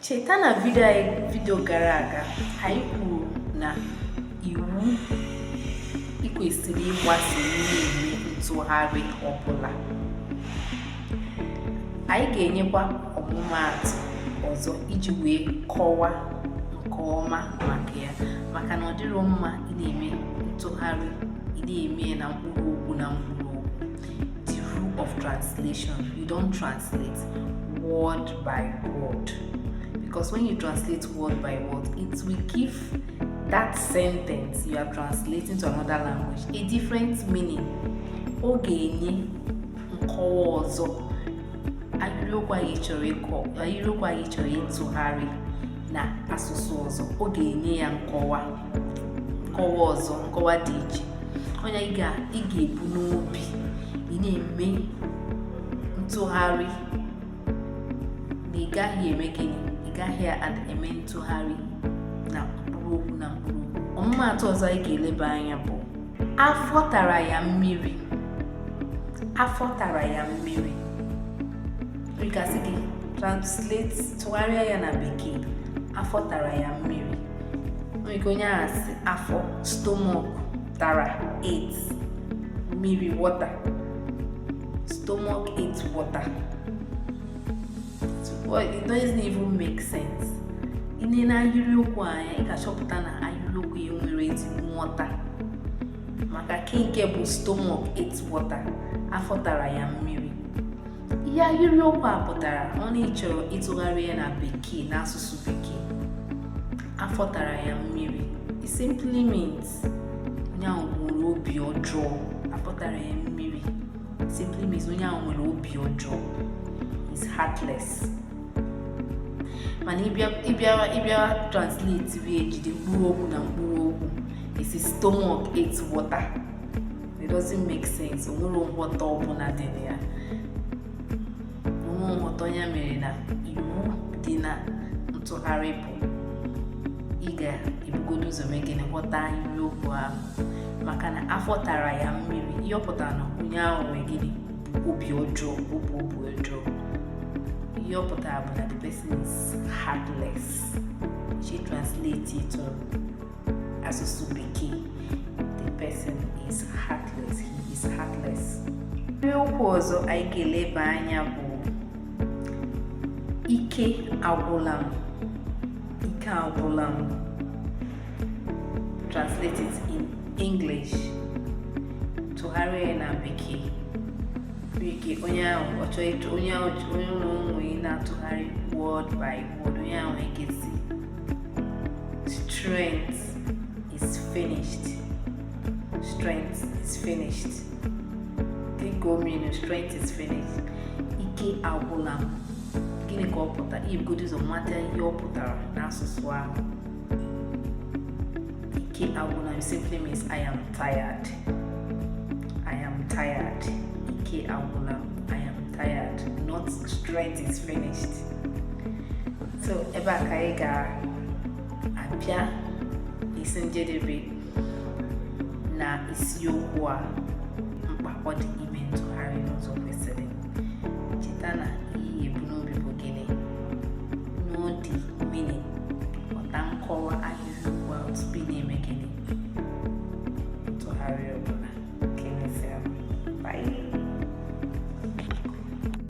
cheta na vidio gara aga anyị kwuru na iwu ikwesịrị ịgbaso ị na-eme ntụgharị ọbụla anyị ga-enyekwa ọmụmaatụ ọzọ iji wee kọwa nke ọma maka ya maka na ọ dịrọ mma ị na-eme ntụgharị ị na-eme na mkpụrụ okwu na mkpụrụ the rule of translation you don't translate word by word because when you translate word by word it will give that sentence you are translating to another language a different meaning ọ ga-enye nkọwa ọzọ ahịrịokwu anyị chọrọ ịtụgharị na asụsụ ọzọ ọ ga-enye ya nkọwa nkọwa ọzọ nkọwa dị iche onye ị ga-ebu n'obi ị na-eme ntụgharị na ị gaghị eme gịnị ị gaghị eme ntụgharị na mkpụrụ okwu na mkpụrụ okwu ọmụmaatụ ọzọ anyị ga-eleba anya bụ afọ tara ya mmiri afọ tara ya mmiri a ga-asị gị translate tụgharịa ya na bekee afọ tara ya mmiri nwere ike onye ahụ sị afọ stomach tara ate mmiri water stomach ate water well, it doesn't even make sense ị na-ele ahịrịokwu anya ị ga-achọpụta na ahịrịokwu a enwerọ ezigbo nghọta maka kee nke bụ stomach ate water afọ tara ya mmiri ihe ahịrịokwu a pụtara ọ na ịchọrọ ịtụgharị ya na bekee n'asụsụ bekee afọ tara ya mmiri it simply means onye ahụ nwere obi ọjọọ afọ tara ya mmiri simply means onye ahụ nwere obi ọjọọ is heartless mana ị bịara translate wee jide mkpụrụ okwu na mkpụrụ okwu ị sị stomach ate water it doesn't make sense o nwerọ nghọta ọbụla dị na ya o nwerọ nghọta onye mere na iwu dị na ntụgharị bụ ị ga-ebugodo ụzọ mee gịnị ghọta ahịrịokwu ahụ maka na afọ tara ya mmiri ihe ọ pụtara na onye ahụ nwere gịnị obi ọjọọ obi obi ọjọọ ihe ọ pụtara bụ na the person is heartless sị translate it asụsụ bekee the person is heartless he is heartless ahịrị okwu ọzọ anyị ga-eleba anya bụ ike agwụla m ike agwụla m translate it in English tụgharịa ya na bekee ike onye ahụ ọ chọọ onye ahụ onye ụlọ onye na-atụgharị word by word onye ahụ ekwuzie Strength is finished. Strength is finished. Take home, you know, strength is finished. Ike agwụla m. Gịnị ka ọ pụtara? I bugodu ụzọ mata ihe ọ pụtara n'asụsụ ahụ. Ike agwụla m simply means I am tired. I am tired. Ike agwụla m. I am tired. Not strength is finished. so ebe a ka anyị ga-abịa isi njedebe na isiokwu a mkpa ọ dị ime ntụgharị n'ụzọ kwesịrị cheta na ihe e bu n'obi bụ gịnị na ọ dị mma ịghọta nkọwa ahịrị okwu a tupu ị na-eme gịnị ntụgharị ọbụla